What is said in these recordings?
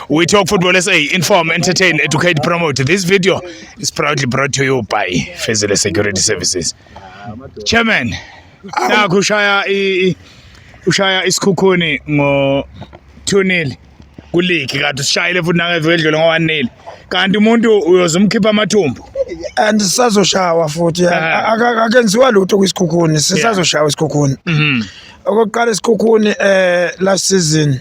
We Talk Football SA, inform, entertain, educate, promote. This video is proudly brought to you by Fezile Security Services. Chairman, nakho ushaya i ushaya isikhukhuni ngo 2-0 kuligi kanti usishayile futhi nangeveke edlule ngo 1-0. Kanti umuntu uyoze umkhipha amathumbu. and sisazoshawa futhi Ah. Aka- akenziwa lutho kwisikhukhuni sisazoshawa isikhukhuni Mhm. okokuqala isikhukhuni eh last season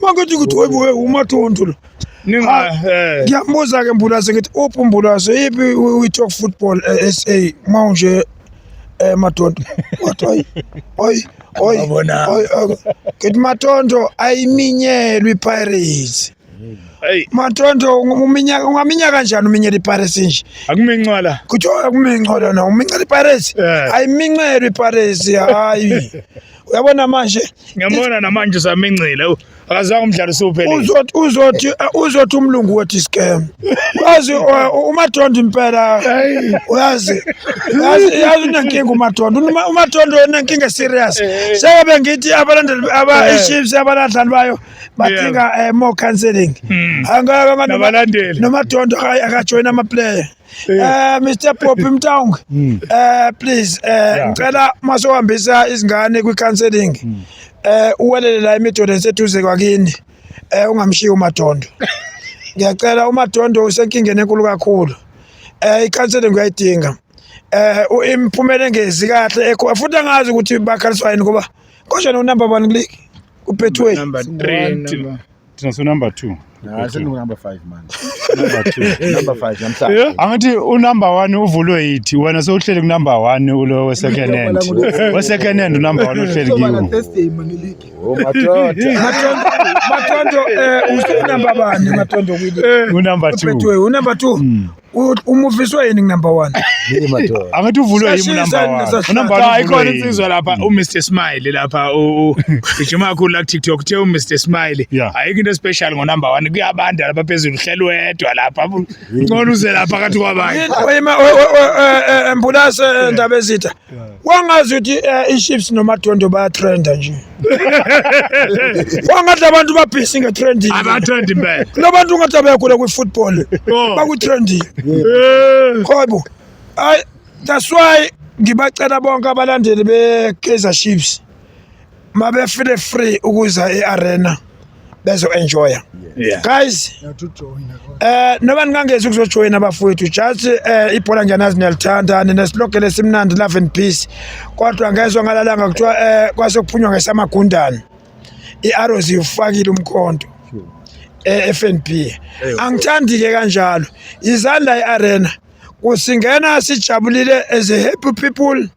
Mangithi ukuthi webuwe umathonto lo. Ah, eh. Ngiyambuza ke Mbulazi ngithi uphi uMbulazi yipi we talk football eh, SA manje eh madondo. Wathi hayi. Hayi. Hayi. Hayi. Ngithi madondo ayiminyelwe iPirates. Hey. Mathonto uminyaka ungaminya kanjani uminyela iPirates nje? Akumincwala. Kuthiwa akumincwala na umincela iPirates? Ayimincelwe iPirates hayi. uyabona manje ngiyambona namanje usamincile akazange umdlalo usuphelile uzothi uzothi uzothi umlungu wethi scam wazi umadondo impela uyazi yazi yazi unenkinga umadondo umadondo unenkinga serious sebe ngithi abalandeli aba iships abaladlali bayo badinga eh, more counseling hmm. angaka nabalandeli nomadondo akajoyina ama player Eh Mr Poppy Mtaung hmm. eh please eh ngicela masohambisa izingane kwi counseling hmm. eh uwelele la imidodo eseduze kwakini eh ungamshiyi umadondo ngiyacela umadondo usenkingeni enkulu kakhulu eh i counseling uyayidinga eh imphumela engezi kahle ekho futhi angazi ukuthi bakhaliswa yini ngoba konje no number 1 click uphethu wethu number 3 thina so number two number five manje number five namhlanje angithi unumber one uvulwe yithi wena sewuhleli kunumber one ulo wesecond hand wesecond hand unumber one uhleli kiwo oh, matondo eh, usunumber bani matondo kwini eh, unumber two unumber two hmm. U- umufiswa yini number one Yini madoda? angithi uvulwe yimi Sashisa number nina, one. sashisa. Unumber one Cha ikhona uvulwe yimi. insizwa lapha uMr Smile lapha u- u- ijima kakhulu la TikTok uthe uMr Smile Yeah. ayikho into special ngo number 1 kuyabanda lapha phezulu uhlelo wedwa lapha ngcono uze lapha kathi kwabanye Yini oyima- o- o- o- eh, eh, mbulase eh, ndabezitha wangazi ukuthi eh, i-chiefs nomadondo bayatrenda nje wangathi abantu babhisi ngetrending abathanda impela kulo bantu ungathi abayagula kwi-football Oh. bakutrending Eh, khobo ayi that's why ngibacela bonke abalandeli be-kaizer chiefs mabefile free ukuza e-arena bezo-enjoya yeah. guys eh noba ningangezi ukuzojoyina abafowethu just eh ibhola ngiyanazi niyalithanda ninesilogele esimnandi love and peace kodwa ngezwa ngalalanga kuthiwa eh kwasokuphunywa ngesamagundane i-arrows iwufakile umkhonto e-FNB angithandi-ke kanjalo izandla i-arena kusingena sijabulile as a happy people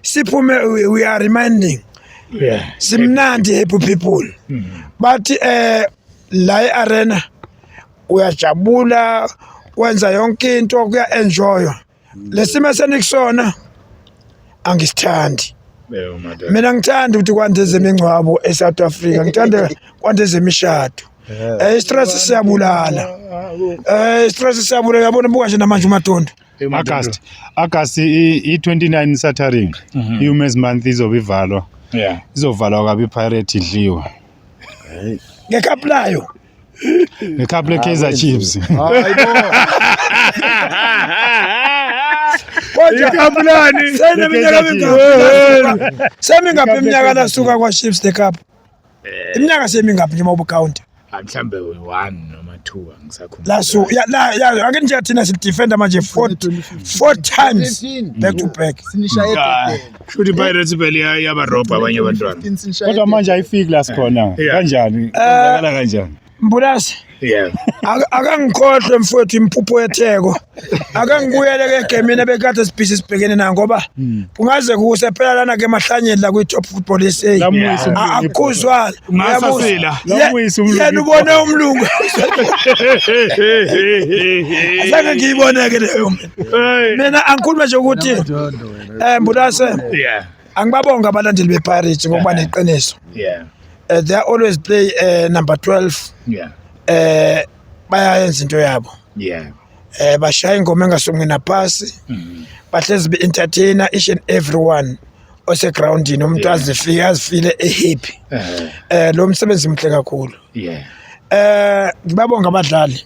siphume we, we are reminding yeah. simnandi happy people mm -hmm. but eh uh, la e-arena uyajabula wenza yonke into kuya-enjoywa lesimo senikusona angisithandi mina ngithanda ukuthi kwande zemingcwabo e-south africa ngithanda kwande zemishado um eh, istress siyabulala um eh, istress siyabulala yabona buka nje namanje umadondo August August i-29 Saturday mhm. i-Women's Month izobe ivalwa yeah izovalwa kabi Pirate idliwe ngekapu layo ngekapu le-Kaizer Chiefs ikapulani semi ngaphi iminyaka nasuka kwa-chiefs the cup Eh. Iminyaka semingaphi nje mawubucounter? Ah, mhlambe uyi-one noma two angisakhumbula. La so ya la ya ake nje thina sidefenda manje four four times back to back. Sinishaye Ah, egedeni. Shuthi iPirates vele iya- iyabarobha abanye abantwana. 15 sinishaye Kodwa manje ayifiki la sikhona. Yeah. Kanjani? Kwenzakala kanjani? Mbulasi. Yeah. Akangikhohlwe mfowethu impupho yetheko. Akangibuyele ke gemini bekade sibhizi sibhekene na ngoba hmm. kungaze kuse phela lana ke mahlanyeni la kwi Top Football SA. Akuzwala. Ngasasila. Lamuyisa umlungu. Yena ubone umlungu. Asake ngiyibone ke leyo. Mina angikhuluma nje ukuthi eh mbulase. Yeah. angibabonga abalandeli bePirates ngokuba Yeah. neqiniso yeah Eh, they are always play eh, number 12 yeah eh bayayenza into yabo yeah eh bashaya ingoma engasongi napasi Mhm. bahlezi be entertainer each and everyone ose groundini umuntu Yeah. azifike azifile ehappy Eh, eh lo msebenzi mhle kakhulu yeah eh ngibabonga abadlali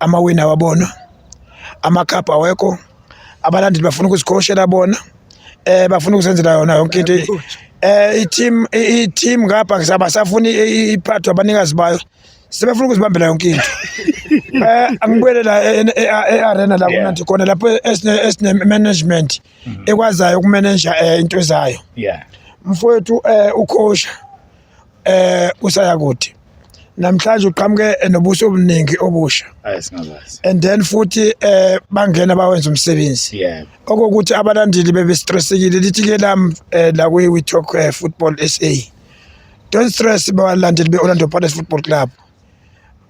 amawini awabona amakhaphu awekho abalandeli bafuna ukuzikhoshela bona eh bafuna ukuzenzela yona yonke into eh i-team i-team ngapha ngisabasafuni iphathwa abanikazi bayo sebefuna ukuzibambela yonke into eh angibuyele la e, e, e, e-arena la kunanti khona lapho esine management mm-hmm. ekwazayo ukumanager eh, into zayo mfowethu eh ukhosha eh usaya kude namhlanje uqhamuke nobuso obuningi obusha and then futhi eh bangena bawenza umsebenzi okokuthi abalandeli bebestressekile lithi ke lam eh, la we talk eh, football SA don't stress balandeli be-Orlando Pirates Football Club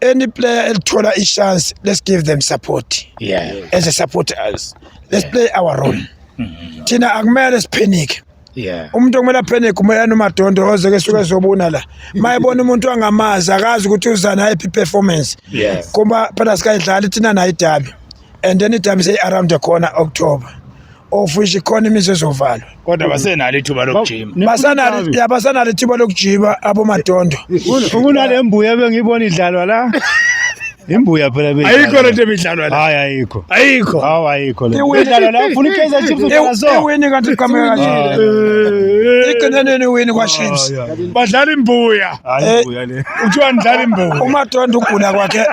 any player elithola i-chance let's give them support yeah. as a support us let's yeah. play our role mm-hmm. thina akumele siphenike Yeah. Umuntu okumele aphene kumele nomadondo oze ke suke zobuna la. Mayibona umuntu angamazi akazi ukuthi uzana iphi performance. Yes. Kuma phela sikayidlala thina nayo idabi. and then itime say around the corner October of which ikhona imizi ezovalwa kodwa basenalo ithuba lokujima basanalo ya basanalo ithuba lokujima abomadondo ukunale mbuya bengiyibona idlalwa la imbuya phela be ayikho lento ebidlalwa la hayi ayikho ayikho hawu ayikho le idlalwa la ufuna ikaizer chiefs udlala so iwini kanti iqhamuka kanje iqinaneni iwini kwa chiefs badlala imbuya Hayi Eh, ibuya le. Kuthiwa nidlala imbuya. umadondi ukugula kwakhe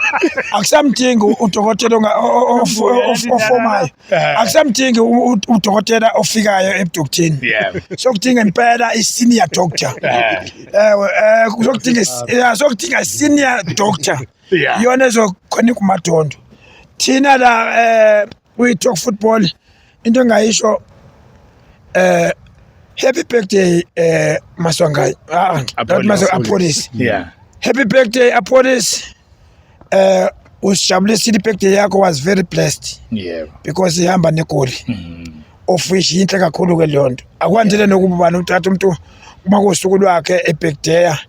akusamdingi udokotela onga- o- o- of- of- ofomayo Eh. akusamdingi u- u- udokotela ofikayo ebudokteni Yeah. sokudinga impela i-senior doctor Eh. ewe eh, sokudinga is- yeah, sokudinga i-senior doctor Yeah. iyona ezokhona kumadondo thina la um kwi-talk football into engayisho eh happy birthday eh maswangayi ah not maswa apolice yeah happy birthday apolice eh usijabulisa i-birthday yakho was very blessed yeah because ihamba negoli mm -hmm. ofish yinhle kakhulu ke leyo nto akwandile nokuba ubani uthatha umuntu uma kosuku lwakhe ebhekdeya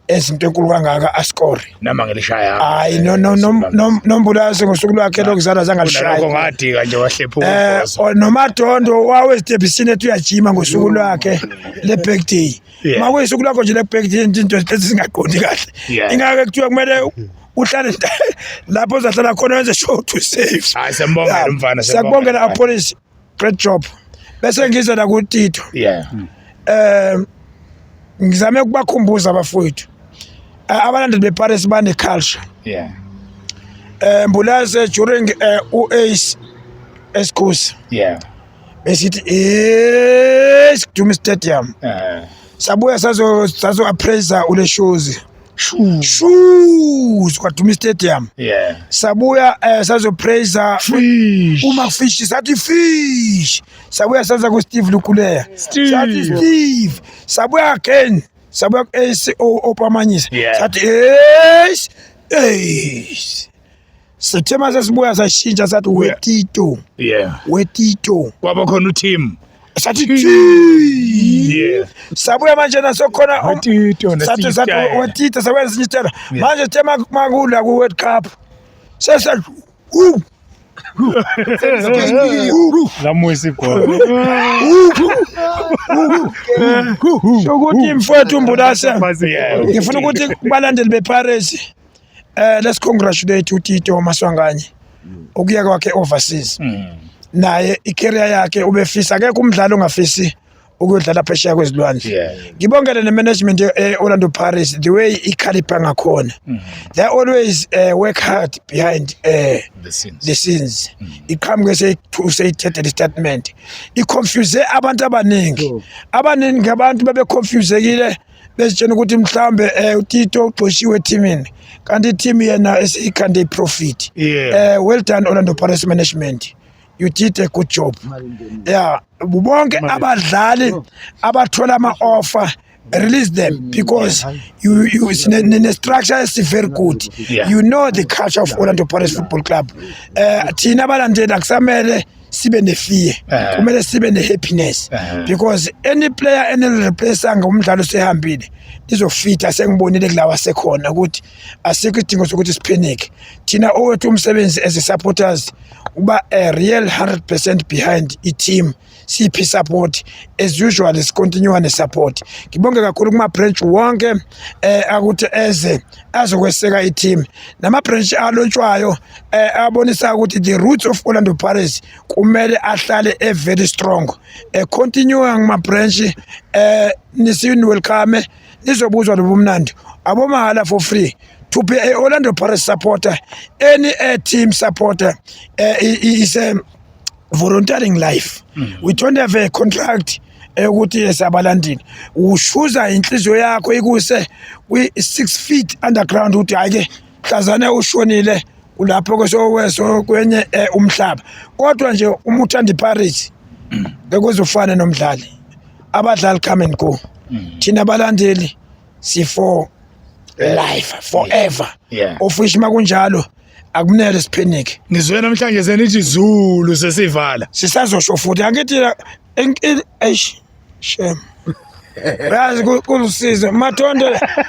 ezinto enkulu kangaka asikore noma ngelishaya hayi no no no no- nombulazi ngosuku lwakhe lokuzalwa zange kunalokho alishaye ngadika nje wahlephuka eh ubhozo. o- nomadondo wawe esitebhisini ethi uyajima ngosuku lwakhe le-birthday Yeah. ma kuyisuku lakho nje le-birthday nje into lezi zingaqondi kahle Yeah. ingake kuthiwa kumele u- uhlale nda- lapho uzahlala khona wenze show to save Hayi, siyambongela umfana, siyakubongela siyambongela. apolisi great job bese ngize la kutito yeah um ngizame ukubakhumbuza abafowethu Eh, abalandeli beparis bane-culture yeah um mbulaze during eh, um u-ace esikhosi yeah besithi e sikuduma istadium uh, sabuya sazo- sazo-appraiser uleshozi shuu sikwaduma istadium yeah. sabuya eh, sazopraiser uma fish sathi fish sabuya saza kusteve lukuleya sathi steve sabuya again sabuya ku-ac opamanyisa sathi eish eish Sithe mase sibuya sashintsha sathi we Tito. Yeah. We Tito. Kwaba khona uTim. Sathi thi. Yeah. Sabuya manje na sokhona We Tito um, sathi sathi nesitayela. we Tito sabuya nesinye isitela. Yeah. Manje sithe mak- makula ku World Cup. Sesa u Lamuyisa igolo. ukuthi mfowethu Mbulase. Yeah. Ngifuna ukuthi balandeli bePirates Eh let's congratulate uTito Maswanganye mm. ukuya kwakhe overseas. Mm. Naye icareer yakhe ubefisa akekho umdlali ongafisi ukuyodlala phesheya kwezilwandle. Ngibongele ne management e Orlando Pirates the way ikhalipha ngakhona. Mm. They always uh, work hard behind uh, the scenes. The scenes. Mm. Iqhamuke se say the statement. I confuse abantu abaningi. Abaningi abantu babe confuse kile bezitshena ukuthi mhlambe eh uTito ugxoshiwe ethimini kanti i-team yena esiyikhande i-profit Yeah. eh well done Orlando Pirates management you did a good job yeah bonke abadlali abathola ama-offer release them because you, you it's ne, ne, ne structure is very good Yeah. you know the culture of Orlando Pirates Football Club eh thina abalandeli akusamele sibe ne-fear Eh. kumele sibe ne-happiness Eh. because any player enilireplace-a ngomdlalo sehambile nizofitha sengibonile kulawa sekhona ukuthi asikho isidingo sokuthi siphenike thina owethu umsebenzi as i-supporters uba a real 100 percent behind i-team siphi i-support as usual sicontinue ne-support ngibonge kakhulu kuma-branch wonke um akuthi eze azokweseka i-team nama-branch alotshwayo um eh, abonisa ukuthi the roots of orlando pirates kumele ahlale e-very strong um eh, continue ngama-branch um eh, nisiwelcome nizobuzwa lobo mnandi abomahhala for free to be a orlando pirates supporter any uh, team supporter uh, is a volunteering life mm. we don't have a contract eyokuthi yesabalandini ushuza inhliziyo yakho ikuse kwi-six feet underground ukuthi hhayi-ke mhlazane ushonile kulapho kwesokweso kwenye eh, umhlaba kodwa nje uma uthanda iparis bekuzofana nomdlali abadlali come and go mm. thina balandeli sifo life forever yeah. ofishi makunjalo akumele siphenike ngizwe namhlanje senithi zulu sesivala sisazosho futhi angithi Inkinga eish shem. Yazi kulusizo mathonde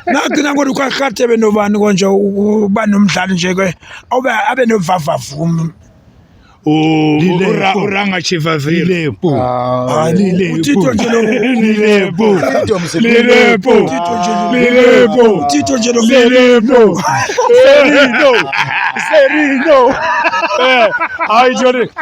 nagcina kodwa kwakade benobani konje uba nomdlali nje ke obe abe novavavumi uranga chivavile utito nje lo lilepo lilepo lilepo utito nje lo lilepo serino serino eh hayi jore